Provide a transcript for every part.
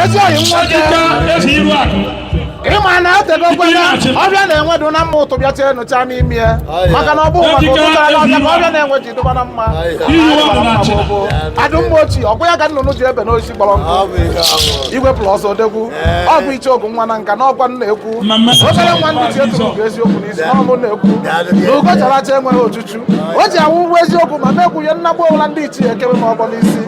ezi oyi nwoke ị ma na etegokwana ọhịa na enwe dụ na mma utu bịa chaa nucha n'ime ya maka na ọ bụ maka utu chara n'ọhịa ka ọhịa na enwe ji dụba na mma ọ bụ adụmma ochie ọgwụ ya ka nnụnụ ji ebe n'oisi kpọrọ nkụ igwe plọs odegwu ọ bụ icheoku nwa na nka n'okwu a na-ekwu obere nwa ndị ji etu ugo eziokwu n'isi na ọ mụ na-ekwu na ugo chara acha enweghị ochuchu o ji awụ ụgwọ eziokwu ma mekwunye nnagbu ọbụla ndị ichie ekebe ma ọgbọ n'isi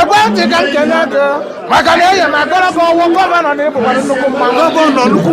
ekwentị ka m kene gị maka na enye m agara gị ọ wụ gọvanọ na ị bụkwara nnukwu mmanwụ